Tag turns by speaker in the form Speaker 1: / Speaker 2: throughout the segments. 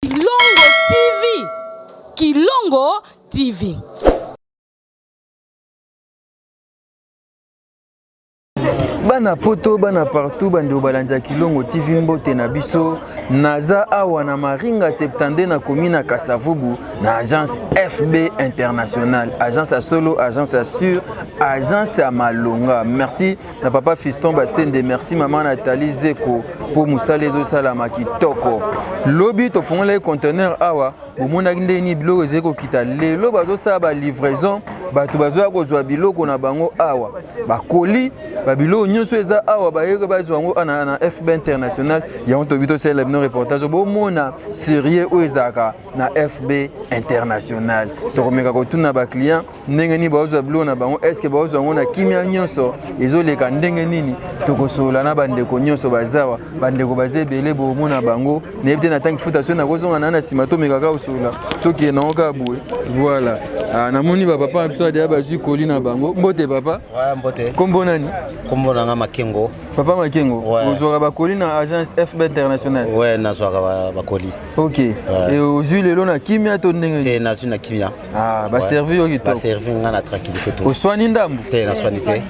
Speaker 1: Kilongo TV.
Speaker 2: Kilongo TV. bana poto bana partout bandeko balandi ya kilongo tv mbote na biso naza awa na maringa 72 na komi na kasavubu na agence fb international agence ya solo agence ya sur agence ya malonga merci na papa fiston basende merci mama natali zeko mpo mosala ezosalama kitoko lobi tofungolaki conteneur awa bomonaki ndenge nini biloko ezali kokita lelo bazosala balivraison bato bazoya kozwa biloko na bango awa bakoli babiloko nyonso eza awa bayeke bazwa yango na, na fb international yango tobi tosalela bino reportage bomona serie oyo ezalaka na fb international tokomeka kotuna baclient ndenge nini baozwa biloko na bango estce baozwa yango na kimia nyonso ezoleka ndenge nini tokosolola na bandeko nyonso bazawa bandeko baza ebele bomona bango nayebi te na ntango futa soki nakozonga na na nsima tomekaka kosolola tokende nango kaka boye voilà ah, namoni bapapa na biso adeya bazwi koli na bango mbote papa kombo
Speaker 3: nani
Speaker 2: kombo nanga makengo
Speaker 3: papa makengo
Speaker 2: ozwaka bakoli na agence fb international nazwaka
Speaker 3: bakoli ok
Speaker 2: ozwi lelo na kimia to ndenge te nazwi na kimia
Speaker 3: Ah, ba servir yo
Speaker 2: kitoko. Ba servir nga na tranquillité
Speaker 3: tout. Oswani ndambu? Te na
Speaker 2: swani te.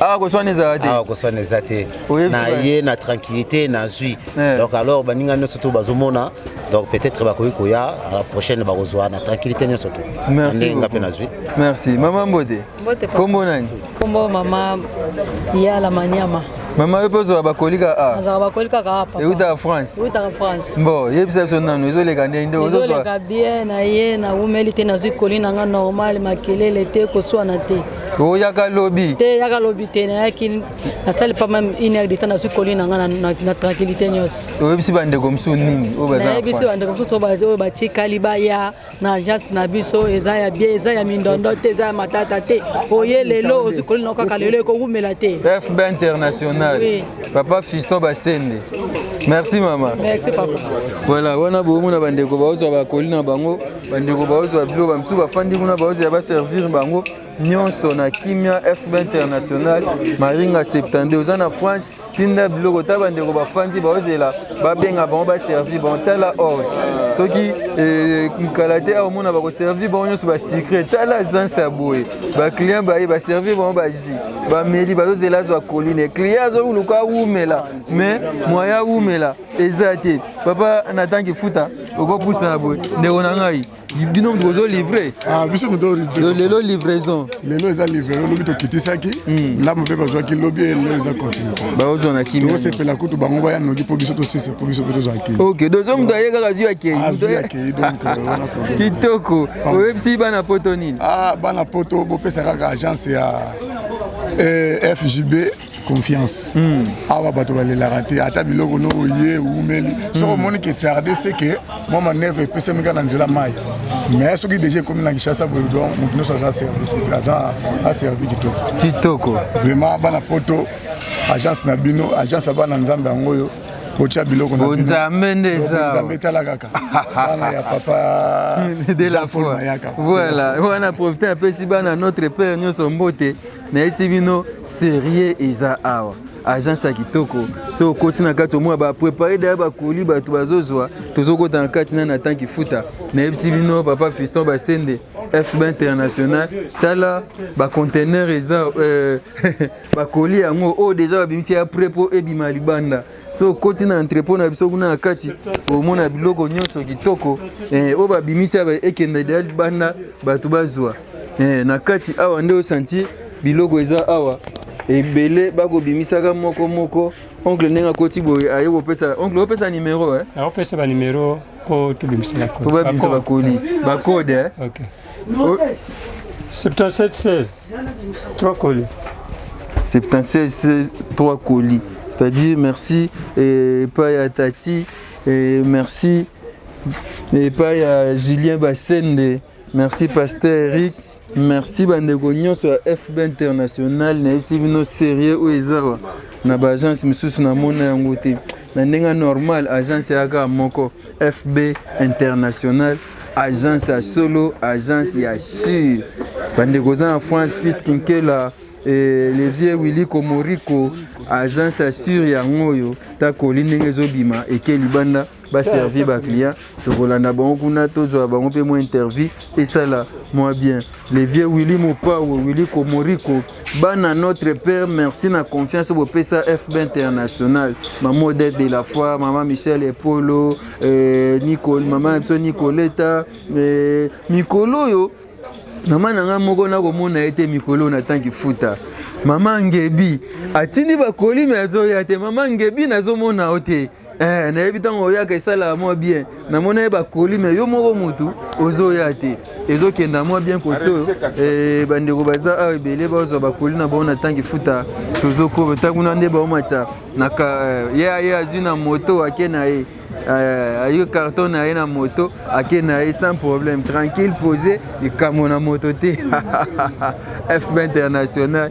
Speaker 3: Ah, koswani eza
Speaker 2: te. Ah, koswani eza te.
Speaker 3: Na ye na tranquillité na zui. Eh. Donc alors baninga nyoso tout bazomona. Donc peut-être bakoki koya à la prochaine bakozwa na tranquillité nyoso tout. Merci. Nga pe na zui.
Speaker 2: Merci. Maman Mbode. Mbote papa. Kombo nani? Kombo mama
Speaker 4: Yala Manyama. Mama yo pozo ba
Speaker 2: kolika a. Azaka ba kolika ka
Speaker 4: papa. Euta ka France. Euta ka
Speaker 2: France.
Speaker 4: Bon, yebisa biso
Speaker 2: nanu ezo leka nde nde ozo zwa. Ezo leka bien na
Speaker 4: ye na umeli te na zwi kolina nga normal makelele te koswana te. oyaka lobi
Speaker 2: te yaka lobi te
Speaker 4: nayaki nasali pa meme une heure de temps nazwi koli na nga na tranquillité nyonso oyebisi bandeko mosusu
Speaker 2: nini oyebisi bandeko mosusu
Speaker 4: oyo batikali baya na agence na biso eza ya bie eza ya mindondo te eza ya matata te oye lelo ozikoli na kaka lelo ekowumela te fb international
Speaker 2: oui. papa fiston basende merci mama merci papa
Speaker 4: voilà wana
Speaker 2: boomona bandeko baozwa bakoli na bango bandeko baozwa bilo bamisusu bafandi kuna baozwa ya baservir bango nyonso na kimia fb international maringa 72 oza na france tinda biloko ta bandeko bafandi baozela babenga bango baservi bango tala or soki eh, kala te awa omona bakoservi bango nyonso basecret tala agence ya boye baclient baye baservi bango baji bameli bazozela azwa colline client azoluka awumela mais moya awumela eza te papa na tanki futa okopusa na boye ndeko na ngai bino moto bozo livre ah, biso moto
Speaker 5: lelo livraison
Speaker 2: lelo eza livraison
Speaker 5: lobi tokitisaki hmm. lamu mpe bazwaki lobi lelo eza continue baozwa na kimi
Speaker 2: tosepela kutu bango
Speaker 5: baya noki mpo biso tosisa mpo biso mpe tozwa kimi ok dozo moto aye kaka
Speaker 2: zwi akei ah, euh,
Speaker 5: kitoko oyebisi
Speaker 2: bana poto nini ah, bana poto
Speaker 5: bopesa kaka agence ya eh, fgb confiance mm. awa bato balelaka te ata biloko no oye oumeli mm. soki omoni ke tarde se ke mwa manœuvre epesami kaka na nzela mai mais soki deja ekomi na kinshasa boye don moto nyonso aza service aza aservi kitoko kitoko vraiment bana poto agence na bino agence ya bana nzambe yango oyo botya biloko nzambe nde ezanzambe
Speaker 2: etala kaka
Speaker 5: bana ya papa de la foi
Speaker 2: voilà wana profite apesi bana notre père nyonso mbote nayebisi bino serie eza awa agence ya kitoko so okoti na kati omona baprepare daya bakoli bato bazozwa tozokota na kati nani atan kifuta nayebisi bino papa fiston bastende fb international tala bacontener eza euh, bakoli yango oyo oh, deja babimisi ya pre mpo ebima libanda so okoti na entrepot na biso kuna na kati omona biloko nyonso kitoko eh, oyo babimisi ya ekenda ideal banda bato bazwa eh, na kati awa nde osanti biloko eza awa ebele bakobimisaka moko moko oncle ndenge akoti boye aye kopesa oncle opesa nimero eh? opesa banimero
Speaker 6: po tobimisa bakoli
Speaker 2: bakode eh? 77 16 3
Speaker 6: colis 76 16 3
Speaker 2: colis c'est-à-dire merci epai ya tati et merci epai ya julien basende merci pasteur eric merci bandeko nyonso ya fb international nayebisi bino sérieux oyo eza wa na baagence mosusu namona yango te na ndenge normal agence ya kaka moko fb international agence ya solo agence ya sur bandeko oza na france fils kinkela eh, le vieux willi komoriko agence ya sur yango oyo takoli ndenge ezobima eke libanda baservi baclient tokolanda bango kuna tozwa bango mpe mwa interview esala mwa bien le vieux willi mopawe willi komoriko bana notre père merci na confiance bopesa fb international mama odette de la foi mama michel epolo eh, Nicole, mama na biso nicoleta eh, mikolo oyo mama na ngai moko nakomona ye te mikolo oyo na ntangi futa mama ngebi atindi bakolimi azoya te mama ngebi nazomona yo te Eh, nayebi ntango oyaka esalaka mwa bien namona ye bakoli me yo moko motu ozoya te ezokenda mwa bien kote oyo eh, bandeko baza awa ebele bazwa bakoli na bango na ntango efuta tozokoba ntango kuna nde baomata eh, ye aye azwi na moto ake na ye eh, ayo carton na ye na moto ake na ye sans problème tranquille pose likambo na moto te fb international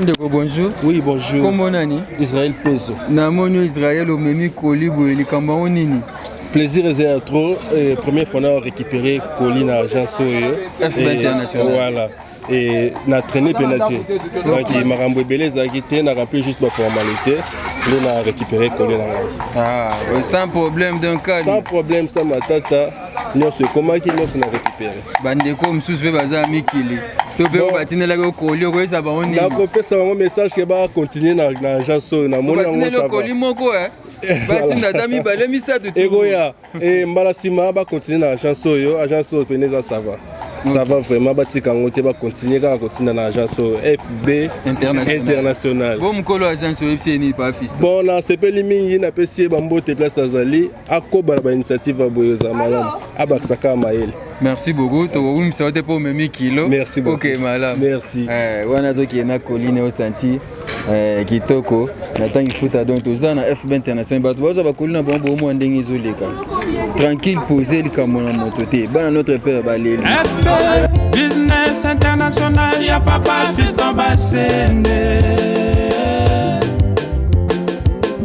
Speaker 7: ndeko bonjour
Speaker 2: oui bonjour kombo
Speaker 8: nani israel
Speaker 2: pezo
Speaker 8: namoni israel
Speaker 2: omemi koli boye likambo yango nini plaisir eza ya
Speaker 8: trop eh, première fois na récupéré koli na agence oyo fb eh, international
Speaker 2: voilà e
Speaker 8: na traîne mpena te donc makambo ebele ezalaki te na rappele juste baformalite nde na récupéré koli na ngai ah,
Speaker 2: sans problème donc sans problème sans
Speaker 8: matata nyonso ekomaki nyonso na récupéré bandeko mosusu mpe
Speaker 2: baza na mikili to mpe oyo batindelaki okoli okoyesa bango nini nakopesa bango message
Speaker 8: ke bacontinue na agence oyo namoninabatindeli okoli moko e
Speaker 2: batinda ata mibale misato ekoya eh,
Speaker 8: mbala nsima bacontinue na agence oyo agence oyo pene eza sava ça va vraiment batika yango te bacontinue kaka kotinda na agence oyo fb international bo mokolo agence
Speaker 2: oyebisi ye nini pa fils bon nasepeli mingi
Speaker 8: napesi ye bambote place azali akoba na bainitiative ya boye eza malamu abakisa kaka mayele merci beaucoup
Speaker 2: tokowumisa yo te mpo omemi kilo merci okay, malamu
Speaker 8: merci
Speaker 2: eh, wana
Speaker 8: azokende na
Speaker 2: colline osanti eh, kitoko na ntango ifuta donc toza na fb international bato bazwa bakoli na bango bomwa ndenge ezoleka tranquille pose likambo na moto te bana notre père baleli
Speaker 7: business international ya papa fiston basende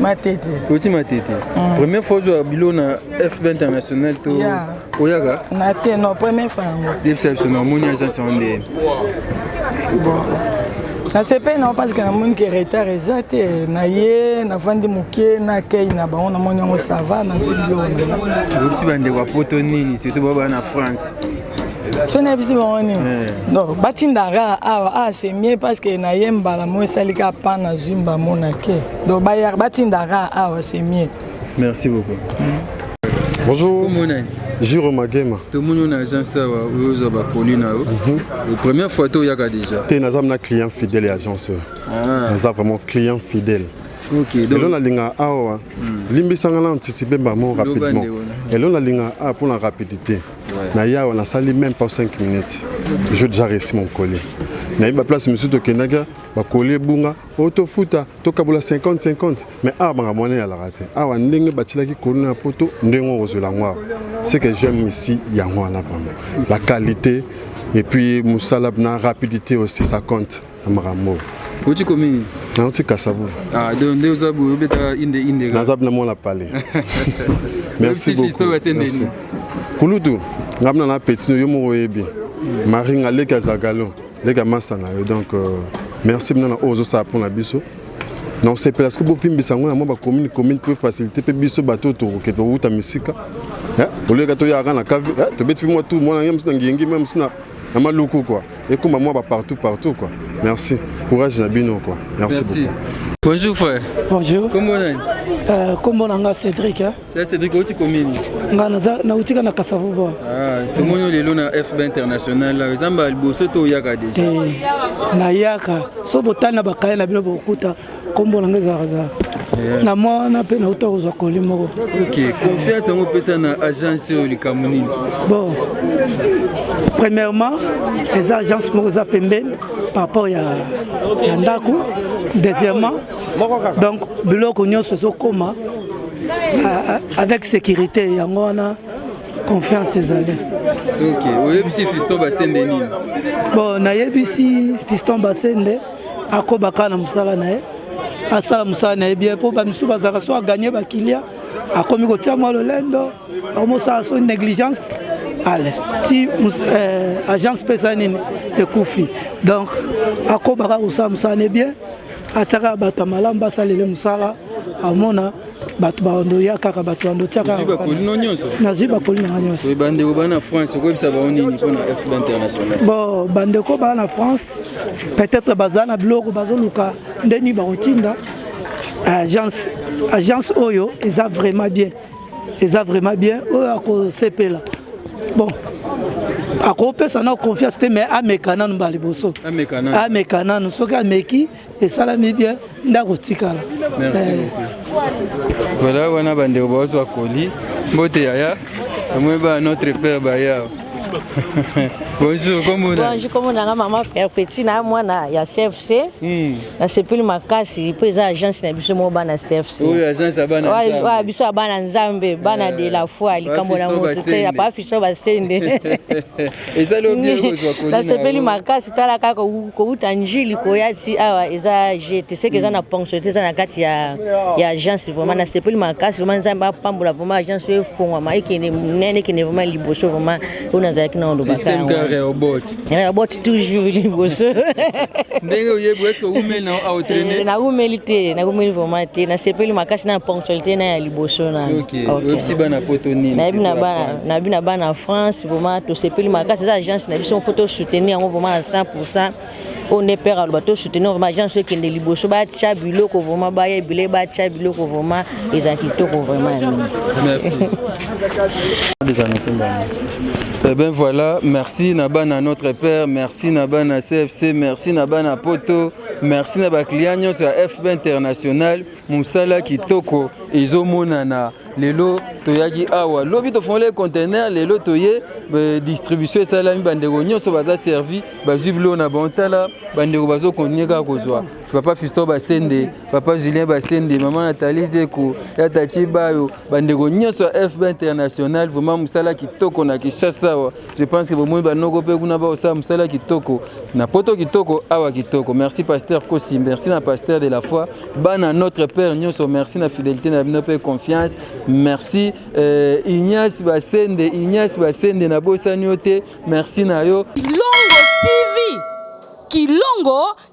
Speaker 2: matete
Speaker 4: oti matete
Speaker 2: mm. première fois ozwa bilo na fb international to oyaka na te no
Speaker 4: première fois yango yebisa biso na omoni
Speaker 2: agence yango nde
Speaker 4: nasepeli nango parce que namoni ke retard eza te na ye nafandi moke na kei na bango namoni yango sava nazwi biona obisi bandeko ya poto
Speaker 2: nini surtout bao baa na france so
Speaker 4: nayebisi bango nini eh. donc batindaka awa ah c'est mieux parce que naye mbala mo esali ka pa nazwi mbamo na ke donc batindaka awa c'est mieux merci beaucoup
Speaker 2: mm.
Speaker 9: bonjour
Speaker 2: jiro magema
Speaker 9: tomoni oyo na agence
Speaker 2: awa oyo ozwa baproduit na yo mhm. première fois to oyaka déjà te naza mna client
Speaker 9: fidèle ya agence oyo ah. naza vraiment client fidèle elo
Speaker 2: nalinga awa
Speaker 9: mm. limbisanga na anticipe mbamo rapidement elo nalinga awa mpo na rapidité na yawa nasali meme pas 5 minutes je déjà resi mon colis nayebi baplace mosusu tokendaki bakoli ebunga o oh, tofuta tokabola 50 50 mais awa makambo wana eyalaka te awa ndenge batyelaki koli na poto ndenge okozwela yango awa ce que j'aime ici yango wana vraiment la qualité et puis mosala na rapidité aussi ça compte na makambo oti komini
Speaker 2: nauti kasavu
Speaker 9: ah, nde oza
Speaker 2: boye obetaka inde inde naza na mwana pale
Speaker 9: merci beaucoup kulutu ngai mna na petino yo moko oyebi maringa leki ya zagalo leki ya masa na yo donc euh, merci mna na oyo ozosala mpo na biso na osepela soki bofimbisa yango na mwa bakomini komini mpo efacilité mpe biso bato oyo tokoke tokouta misika eh, oleka toyaka na kavi eh, tobeti mpe mwa tu mwana ye mosu na ngiyengi mwa mosu na na maluku quoi ekoma mwa ba partout partout quoi merci courage na bino quoi merci, merci. beaucoup bonjour frère
Speaker 2: bonjour kombo nani euh, kombo na
Speaker 10: nga cédric hein? c'est cédric outi
Speaker 2: komini nga naza nautika
Speaker 10: na kasavuba ah, tomoni
Speaker 2: lelo na fb international eza mbala liboso toyaka deja
Speaker 10: nayaka so botali na bakaya na bino bokuta Kombo na ngai ezalaka zara na mwa wana mpe nauta kozwa koli moko confiance
Speaker 2: yango opesa na agence oyo likambo nini bon
Speaker 10: premièrement eza agence moko eza pembeni par rapport ya ndako deuxièmement donc biloko nyonso ezokoma euh, avec sécurité yango wana confiance ezali
Speaker 2: oyebisi fiston basende nini bon
Speaker 10: nayebisi fiston basende akoba kaka na mosala na ye asala mosala na ye bien mpo bamisusu bazalaka so aganye bakilia akomi kotia mwa lolendo akomosala so négligence ale ti eh, agence pesa nini ekufi donc akobaka kosala mosala ne bien atiaka bato ya malamu basalele mosala amona bato bando ya kaka bato bando tiaka nazwi bakoli nanga nyonso bandeko baa na france
Speaker 2: okoyebisa bango nini mpona fb international bon bandeko
Speaker 10: baa na france peut-être baza na biloko bazoluka nde nini bakotinda agence agence oyo eza vraiment bien eza vraiment bien oyo akosepela bon akopesa na confiance te mais ameka nanu mbala liboso ameka nanu soki ameki esalami bien ndako tikala
Speaker 2: voilà eh. wana bandeko bazwa koli mbote yaya amoni ba notre père baya bonjour komona bonjour komona nga mama
Speaker 11: ya petit na mwana ya CFC hmm. na sepeli makasi mpo eza agence na biso moko bana CFC oyo agence ya bana
Speaker 2: nzambe wa biso ya bana
Speaker 11: nzambe bana eh. de la foi likambo na moto te ya ba fiso basende ezali
Speaker 2: obi ekozwa kolina nasepeli makasi
Speaker 11: tala kaka kowuta njili koya ti awa eza je te seke eza na ponctualité eza na kati ya, ya agence vraiment nasepeli makasi vraiment nzambe apambola vraiment agence oyo efongwama ekende monene ekende vraiment liboso vraiment oyo nazalaki na
Speaker 2: olobakaobot toujours
Speaker 11: liboso ndenge
Speaker 2: oyebi eske oumeli na aotraine eh, naumeli te
Speaker 11: naumeli vraiment te nasepeli makasi na ponctualité na ya liboso na
Speaker 2: nayebi na
Speaker 11: bana na france Vraiment tosepeli makasi eza agence na biso mfo tosoutenir yango vraiment na 100 pourcent oyo nde père aloba tosoutenir vraiment agence oyo ekende liboso batya biloko vraiment baya ebele batya biloko vraiment eza kitoko vraiment ya
Speaker 2: mingi merci Eh bien voilà, merci na bana notre père, merci na bana CFC, merci na bana Poto, merci na ba clients sur FB international. Musala kitoko ezo monana lelo toyaki awa lobi tofongolaki conteneur lelo toye eh, distribution esalami bandeko nyonso baza servi bazwi bilo na bango tala bandeko bazokontinue kaka kozwa papa fistor basende papa julien basende mama natali zeko ya tati bayo bandeko nyonso ya fb international vraiment mosala kitoko na kinshasa awa Je pense que bomoni banoko pe kuna ba osala musala kitoko na poto kitoko awa kitoko. Merci pasteur Kosi, merci na pasteur de la foi, bana notre père Nyoso, merci na fidélité na bino pe confiance. Merci euh, Ignace Basende, Ignace Basende na bosani yo te. Merci na yo. Kilongo TV.
Speaker 1: Kilongo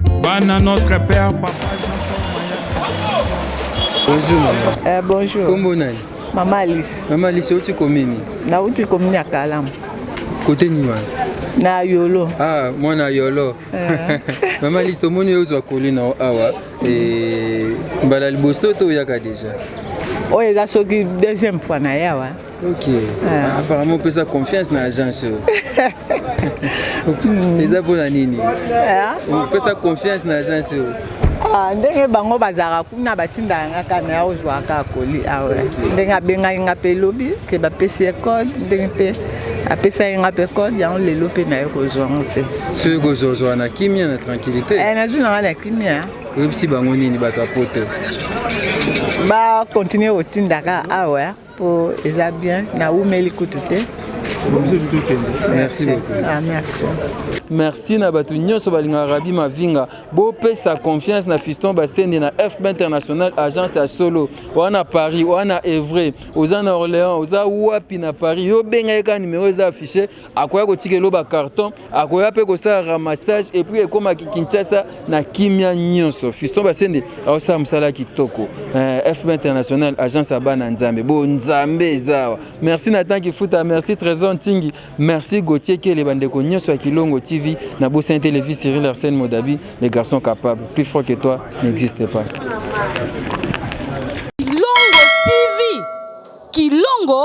Speaker 7: Bana notre père papa
Speaker 2: Bonjour maman. Eh, bonjour. Kombo nani? Mama Alice.
Speaker 12: Mama Alice, oti komini?
Speaker 2: Nauti komini ya
Speaker 12: Kalamu. Kote nini
Speaker 2: wana? Na Yolo.
Speaker 12: Ah, mwana Yolo.
Speaker 2: Eh. Mama Alice, tomoni yo ozwa koli na awa. Eh, mbala liboso to oyaka deja? Oyo eza
Speaker 12: soki deuxième fois na yawa. Ok.
Speaker 2: Ah.
Speaker 12: Apparemment
Speaker 2: opesa confiance na agence oyo. Eza mpo na nini? Ah. Opesa confiance na agence oyo. Ah, ndenge
Speaker 12: bango bazalaka kuna batindaka nga kame aozwa kaka koli awa ndenge abengaki nga mpe lobi ke bapesi ye code ndenge mpe apesaki nga mpe code yango lelo mpe naye kozwa yango mpe soki kozwazwa
Speaker 2: na kimia na tranquillité eh, nazwi na nga na kimia
Speaker 12: oyebisi bango nini
Speaker 2: bato ya poto bakontinue
Speaker 12: kotindaka awa Po eza bien na umeli kutu te.
Speaker 2: Merci beaucoup.
Speaker 12: Ah, merci. Merci
Speaker 2: na bato nyonso balingaka Rabi Mavinga. Bopesa confiance na Fiston Bastende na FB International agence ya solo. Oza na Paris, oza na Evry, oza na Orléans, oza wapi na Paris. Yo benga ye kaka numero eza affiche akoya kotika elo bacarton akoya mpe kosala ramassage epuis ekomaki kinshasa na kimia nyonso fiston basende akosala mosala kitoko eh, fb international agence ya bana nzambe bo nzambe ezawa merci natan kifuta merci trésor ntingi merci gautier kele bandeko nyonso ya kilongo tv na bosain televi cyril arsène modabi les garçons capables plus fort que toi n'existe pas
Speaker 1: kilongo tv kilongo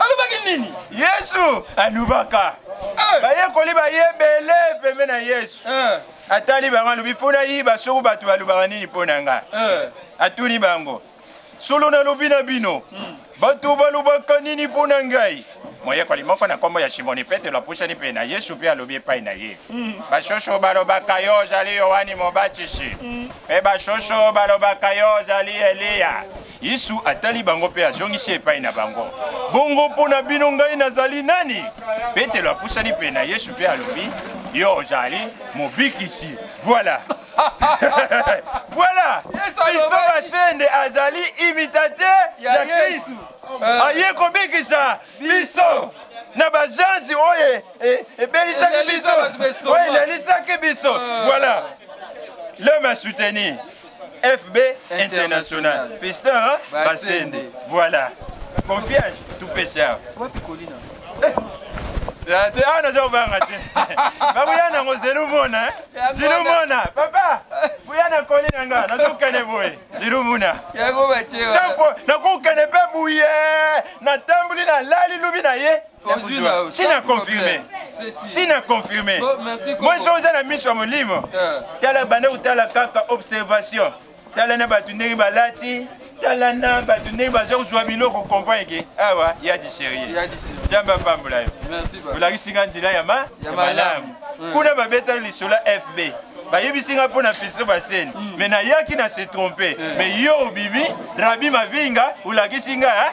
Speaker 2: alobaki nini yesu
Speaker 13: alobaka eh. bayekoli baye ebele pembe na yesu eh. atali bango alobi mpo na yiba soko bato balobaka nini mpo na ngai eh. atuni bango solo nalobi na bino hmm. bato balobaka nini mpo na ngai moyekoli moko na nkombo ya simoni petelo apusani mpe na yesu mpe alobi epai na ye hmm. basusu balobaka yo ozali yohani mobatisi mpe hmm. basusu balobaka yo ozali eliya Yesu atali bango mpe azongisi epai na bango, bongo mpo na bino ngai nazali nani? Petelo apusani mpe na Yesu mpe alobi, yo ozali mobikisi. Voilà. voilà. Biso basende azali imitateur ya Kristu. Euh. Aye kobikisa biso na bajansi oyo e, e, ebelisaki biso oyo elelisaki biso. Euh. Voilà. L'homme a soutenu FB international. Fiston hein? Basende. Voilà. Confiance tout pêcheur. Eh. te awa naza kobanga te babuya nango zelumona eh? zelumona papa buya na koli na nga nazokende boye zelumuna nakokende mpe buye natamboli nalali lubi na ye sina confirme sina confirme moiso oza na miso ya molimo eh. tala banda kotala kaka observation tala na bato ndenge balati tala na bato ndenge baza kozwa biloko comprendreke awa ya diserie nzambe apambola yo olakisi nga nzela ya malamu hmm. kuna babetaki lisola fb bayebisi nga mpo na fiso baseni me hmm. nayaki na se trompe me hmm. yo obimi rabi mavinga olakisi nga eh?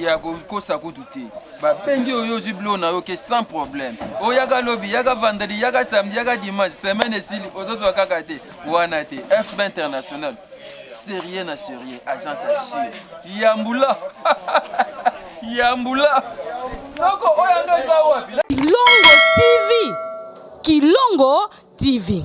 Speaker 2: ya kokosa kutu te babengi oyo ozwi bilo na yo ke sans problème oyaka lobi yaka vendredi yaka samedi yaka dimanche semaine esili ozozwa kaka te wana te fb international sérieux na sérieux agence assure yambula yambula noko oyo yango eza
Speaker 1: wapi
Speaker 2: longo
Speaker 1: tv
Speaker 2: kilongo
Speaker 1: tv